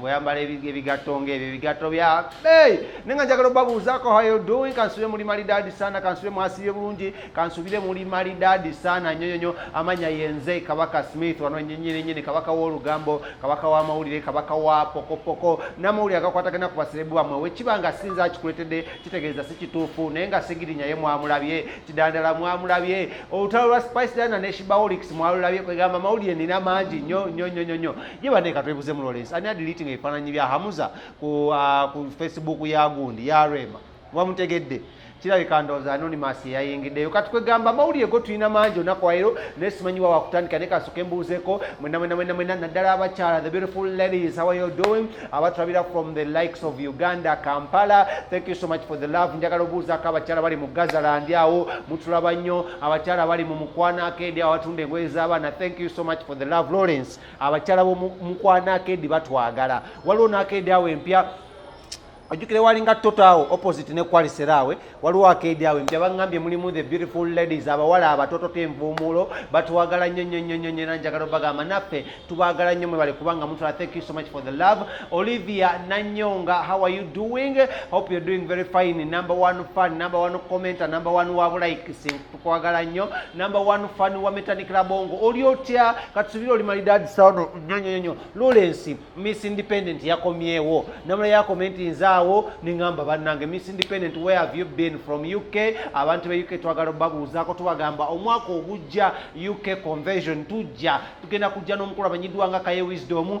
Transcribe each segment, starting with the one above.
bweyambala ebigatto ngaebyo ebigatto bya bey naye nga njagala obabuuzaako how you doing kansubire muli mali dadi sana kansubire mwasibye bulungi kansubire muli mali dadi sana nyo nyonyo amanya yenze kabaka smith wano nyenyini nyini kabaka w'olugambo kabaka w'amawulire kabaka wa pokopoko n'amawulire agakwatagana ku baserebu bamwe wekiba nga sinza akikuletedde kitegeeza si kituufu naye nga sigirinya ye mwamulabye kidandala mwamulabye olutalo lwa spice dana ne shibaolix mwalulabye kwegamba amawulire nina mangi nyo nyo nyo nyo nyo ye bane katwebuze mu lawrence ani adiliting ebifaananyi bya hamuza ku, uh, ku facebook ya gundi ya rema wamutegedde kirabika ndowooza anonymous yeyayingiddeyo kati kwegamba amawulire go tulina mangi olunaku waero naye simanyi wa wakutandika naye kasooka embuuzeeko mwena mwena mwena mwena naddala abakyala the beautiful ladies how are you doing abatulabira from the likes of uganda kampala thank you so much for the love njagala obuuzaako abakyala bali mu gazaland awo mutulaba nnyo abakyala bali mu mukwano akeedi awo batunda engoye z'abaana thank you so much for the love lawrence abakyala bomukwana akedi batwagala waliwo nakedi awo empya ojukire walinga toto awo opposite ne kwalisera awe waliwo akedi awe mpya bangambye mulimu the beautiful ladies abawala abatoto tenvuumuulo batwagala nnyo nnyo nnyo nnyo nnyo era njagala obagamba naffe tubagala nnyo mwebale kubanga mutola thank you so much for the love olivia nanyonga how are you doing hope you're doing very fine number one fan number one commenter number one wabulaikisi kwagala nnyo number one fan wa metanik labongo oli otya katusubire oli malidadisano nyonyonyo lawrence miss independent yakomyewo namula yakomenti nzaawo nengamba bannange miss independent where have you been from uk abantu be uk twagala obabuuzaako tubagamba omwaka ogujja uk convention tujja tugenda kujja n'omukulu amanyiddwa nga kaye wisdom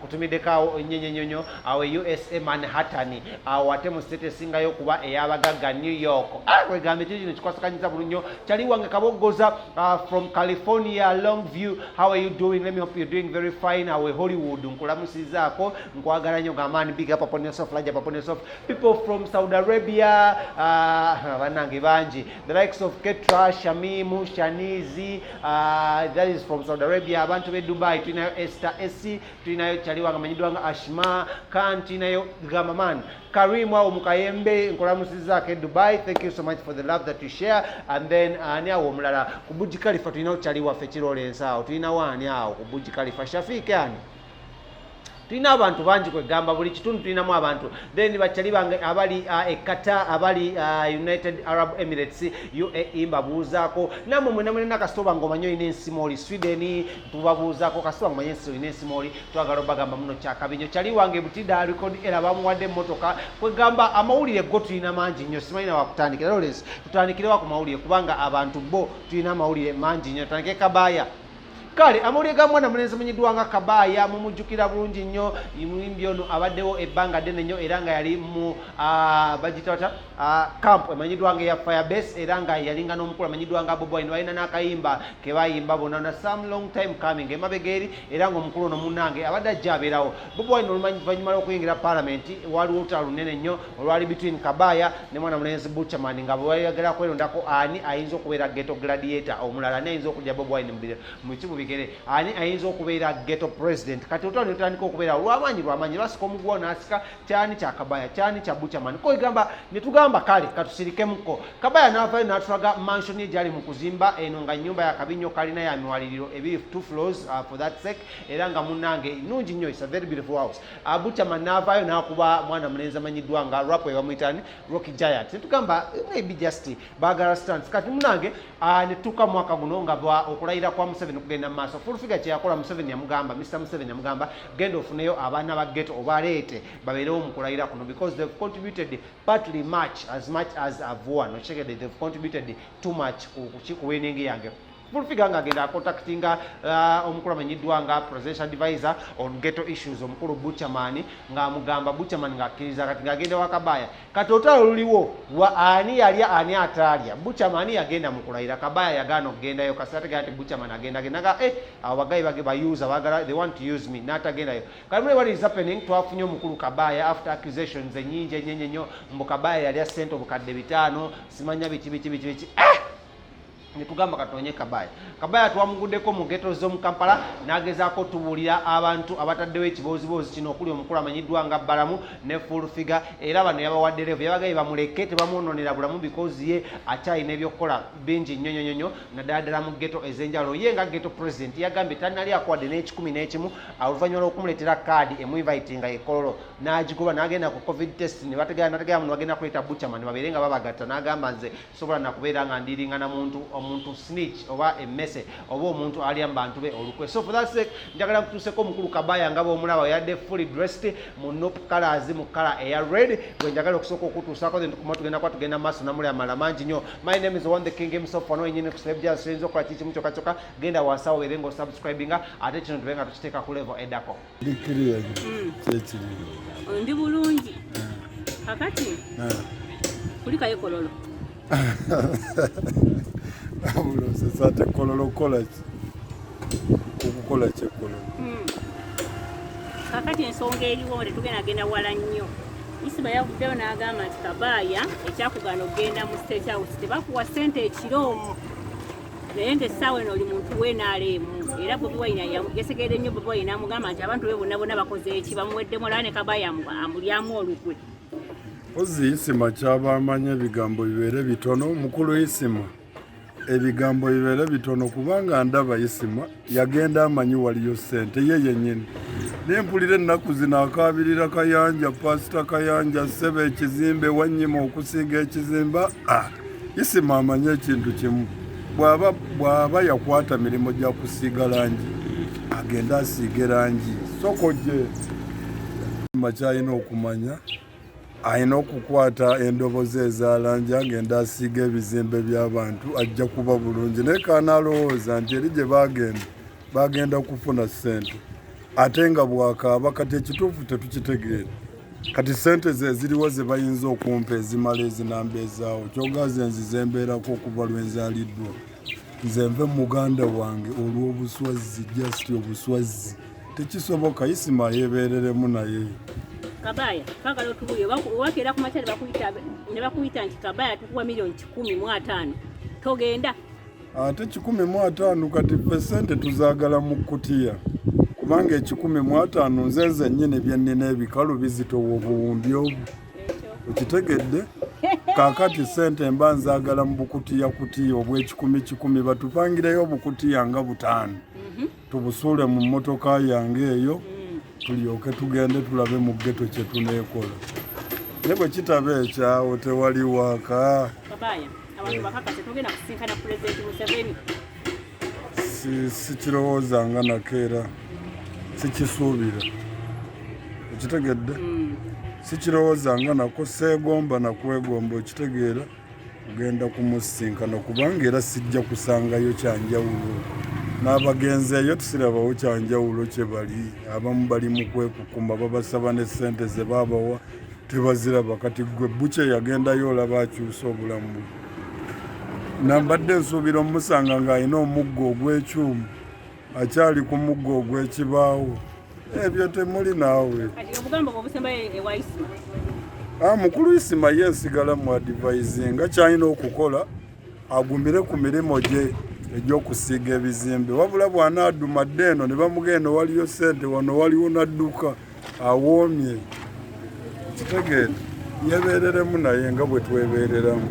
kutumiddeko awo nnyenyenyonyo awo e usa manhattan awo ate mu state esingayo okuba ey'abagagga new york ah, wegambye kyo kino kikwasakanyiza bulu nnyo kyali wange kaboggoza ah, from california long view how are you doing let me hope you're doing very fine awe hollywood nkulamusizaako nkwagala nnyo gamaani big up upon yourself large up upon yourself people from saudi arabia ah, banange bangi the likes of ketra shamimu shanizi uh, that is from saudi arabia abantu be dubai tulinayo ester esi tulinayo chali wange amanyiddwa nga ashma kan tulinayo gamaman karimu awo mukayembe nkolamusizaako e dubai thank you so much for the love that you share and then uh, ani awo omulala ku buji kalifa tulinawo chali waffe kiroola ensaawo tulinawo ani awo ku buji kalifa shafiik ani tulina abantu bangi kwegamba buli kitundu tulinamu abantu then bakyali bange abali uh, ekata abali uh, united arab emirates uae mbabuuzaako namwe mwenamwenena kasitoba nga omanye olina ensima oli sweden tubabuuzaako kasitoba nga omanye ensi olina ensima oli twagala obagamba muno kyakabinyo kyali wange butida record era bamuwadde emotoka kwegamba amawulire go tulina mangi nnyo simanyi na wakutandikira lawrence tutandikirewa ku mawulire kubanga abantu bo tulina amawulire mangi nnyo tutandike kabaaya kale amawulire ga mwana mulenzi munyiddwa nga kabaaya mumujjukira bulungi nnyo muyimbi ono abaddewo ebbanga ddene nnyo era nga yali mu bagitata camp emanyiddwa nga eya firebase era nga yalinga n'omukulu amanyiddwa nga boboin balina n'akayimba kebayimba bona na some long time coming emabega eri era nga omukulu ono munange abadde ajja abeerawo boboin oluvanyuma lw'okuyingira palamenti waliwo olutalo lunene nnyo olwali between kabaya ne mwana mulenzi buchaman nga bweyagala kwerondako ani ayinza okubeera geto gladiator omulala ani ayinza okulya bob wine mukimu bigere ani ayinza okubeera geto president kati otwani otandika okubeera olwamaanyi lwamaanyi basika omuguwa nasika kyani kya kabaya kyani kya buchaman koigamba netugamba kale katusirikemuko kabaya navayo natulaga mansion egyali mu kuzimba eno nga nyumba yakabi nnyo kalina ya miwaliriro ebiri two floors uh, for that sake era nga munange nungi nnyo is a very beautiful house abutama n'avaayo n'akuba mwana mulenzi amanyiddwa nga rap ebamuyitani rocky giant netugamba eh, maybe just bagala stance kati munange ah, netutuuka mwaka guno nga okulayira kwa museveni okugenda mu maaso fulfiga kyeyakola museveni yamugamba mr museveni yamugamba genda ofuneyo abaana ba geto obaleete babeerewo mu kulayira kuno because they've contributed partly much as much as avoa nokitegedde they've contributed too much ku winning yange Fulfiga nga agenda akontaktinga uh, omukulu amenyiddwa nga presidential advisor on ghetto issues omukulu Buchaman nga amugamba Buchaman nga akkiriza kati nga agenda wakabaaya kati otalo luliwo wa ani yalya ani ataalya Buchaman yagenda mu kulayira kabaaya yagaana okugendayo kasi ategera nti Buchaman agenda agenda nga eh abo bagayi bage bayuza bagala they want to use me n'atagendayo kati mune what is happening twafunye omukulu kabaaya after accusations enyingi enyenyenyo mbu kabaaya yalya sente obukadde bitaano simanya biki biki biki biki ah! netugamba katonye kabaya kabaya twamugudeko mu geto zomu kampala nagezaako tubuulira abantu abataddewo ekibooziboozi kino okuli omukulu amanyiddwa nga balamu ne full figure era bano yabawadde revu yabagaye bamuleke tebamwononera bulamu bikozi ye akyalina ebyokukola bingi nyonyonyonyo naddala ddala mu geto ez'enjawulo ye nga geto president yagambye tanali akuwadde n'ekikumi n'ekimu oluvannyuma lw'okumuleetera kaadi emuinvitinga ekololo n'agigoba n'agenda ku covid test nebategera nategera muno bagenda kuleeta buchaman babeere nga babagatta n'agamba nze sobola nakubeera nga ndiringa na muntu omuntu snitch oba emese oba omuntu alya mubantu be olukwe so for that sake njagala nkutuuseko omukulu kabaya nga bwomulaba yadde fully dressed mu nop colors mu kala eya red gwe njagala okusooka okutuusako then tukuma tugenda kuba tugenda maaso namuli amala mangi nyo my name is one the king himself ono yenyini kuselebja soyinza okukola kikimu kyokakyoka genda wansawo ere nga osubscribinga ate kino tube nga tukiteeka ku level edako ndi bulungi kakati kulikayo kololo abulosesa ate kololo kukolaki okukola kyekololo hmm. kakati ensonga eriwo nga tetugenda genda wala nnyo isima yavuddeyo n'agamba nti kabaaya ekyakugaana okugenda mu state house tebakuwa sente ekiro omu naye nga essaawa eno oli muntu wenaalemu era bobi wayina yasegeera ennyo bobi wayina amugamba nti abantu be bonna bonna bakoze eki bamuweddemu olaba ne kabaya amulyamu olukwe ozi isima kyabamanya ebigambo bibeere bitono mukulu isima ebigambo bibeere bitono kubanga ndaba isima yagenda amanyi waliyo sente ye yenyini naye mpulira ennaku zino akaabirira kayanja pasita kayanja seba ekizimbe wanyima okusiiga ekizimba ah, isima amanyi ekintu kimu bw'aba yakwata mirimu gya kusiiga langi agenda asiige langi sokojje makyalina okumanya alina okukwata endobozi ezalanja ngenda asiiga ebizimbe byabantu ajja kuba bulungi naye kanalowooza nti eri gye bagenda bagenda kufuna sente ate nga bwakaaba kati ekituufu tetukitegeera kati sente zeziriwo zebayinza okumpa ezimala ezinamba ezaawo kyogaze nzize embeerako okuva lwenzaliddwa nze nve muganda wange olw'obuswazzi just obuswazzi tekisoboka isima yebereremu naye kabaya kagala otubuye wakera kumakyali bakuyita ne bakuyita nti kabaya tukuwa milioni kikumi mu ataano togenda ate kikumi mu ataano kati fe sente tuzagala mu kutiya kubanga ekikumi mu ataano nze nze nyini byennina ebikalu bizitowa obuwumbi obwo okitegedde kakati sente mba nzagala mu bukutiya kutiya obwekikumi kikumi batupangireyo obukutiya nga butaano mm -hmm. tubusuule mu mmotoka yange eyo tulyoke tugende tulabe mu ggeto kye tuneekola naye bwe kitaba ekyawo tewali waka sikirowooza nga nakeera sikisuubira okitegedde mm. sikirowooza nga nako seegomba nakwegomba okitegeera kugenda kumusisinkana kubanga era sijja kusangayo kyanjawulo n'abagenzi eyo tusirabawo kyanjawulo kye bali abamu bali mu kwekukuma babasaba ne ssente ze baabawa tebaziraba kati gwe bukye yagendayo olaba akyusa obulamu bwe nambadde nsuubira omusanga ng'alina omuggo ogw'ekyuma akyali ku muggo ogw'ekibaawo ebyo temuli naawe ah, mukulu isima ye nsigala mu adivayizinga kyalina okukola agumire ku mirimu gye egyokusiiga ebizimbe wabula bwanaaduma dde eno ne bamugenda waliyo sente wano waliwo nadduka awoomye kitegeere yebeereremu naye nga bwe twebeereramu